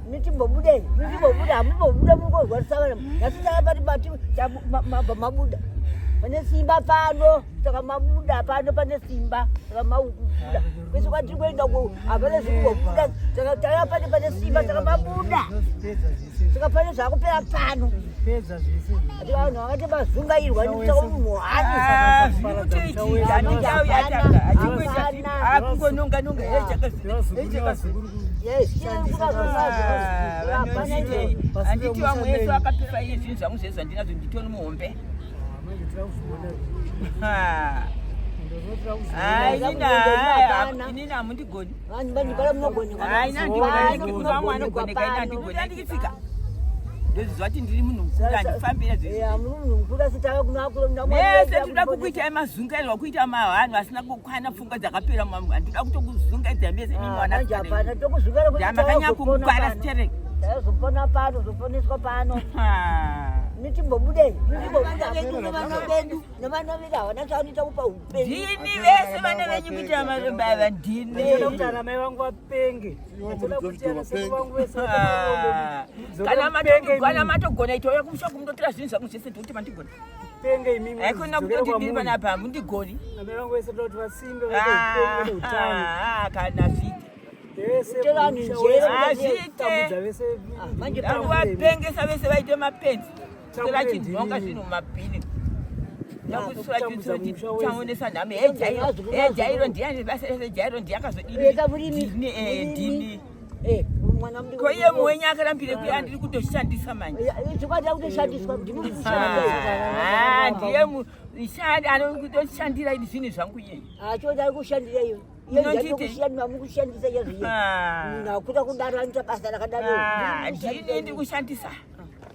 Mitimbobudei, mitimbobuda, hamumbobuda mukozwarisa vana. Nhasi tava pati pati mabva mabuda. Pane simba pano, saka mabuda pano pane simba, saka mabuda. Kwese kwatiri kuenda uko hapana zvikumbobuda, saka tava pati pane simba, saka mabuda. Saka pane zvakupera pano. vanhu vakati vazungairwa nechaunoakungononganonga handiti vamwe yesu vakapiwa iye zvinhu zvangu zvezvo handinazvo nditoni muhombe hainina hamundigoni haina ndigoneka ina ndigoneka Fika. Ndozviziva kuti ndiri munhu mukuru handifambire zvese tinoda kukuita emazungairwa kuita mavanhu asina kukwana pfungwa dzakapera mamwe handinoda kutokuzungaidza mese nemwanaamakanyanya kukukwana sterek zopona pano zoponeswa pano ndini vese vana venyu kuita mazombaava ndini kuti ana mai vangu vapenge kana matogona itouya kumusha kumutotora zvinhu zvangu zvese ndikuti mandigona aikona kutoti ndiri panapa hamundigoni kana zviti vanhu zvete vangu vapengesa vese vaite mapenzi vachidhonga zvinhu mumabhini taonesa nhamo ejairo ndiani basa rese jairo ndiakazodini ko iye mwenye akarambire kuya ndiri kutoshandisa manjndiye mushandi anokutoshandira idi zvinhu zvangu iyeyi ndini ndikushandisa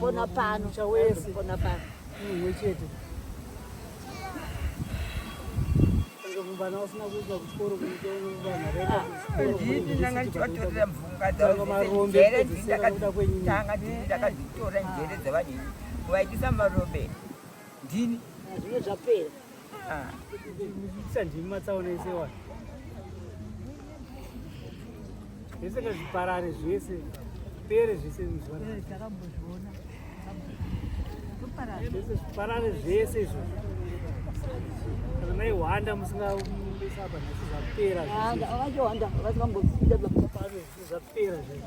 Pona pano, pona pano. Mwe chete. Mvana usina kuita kuchikoro kuita mvana rega. Ndini ndanga ndichivatorera mvunga dzavo dzere ndakatanga ndakadzitora njere dzevanhu vaitisa marombe ndini. Zvine zvapera. zvese ngazviparare zvese pere zvese zvese zviparare zvese izvo kana maihwanda musingaisapa nhasi zvapera zvapera zvese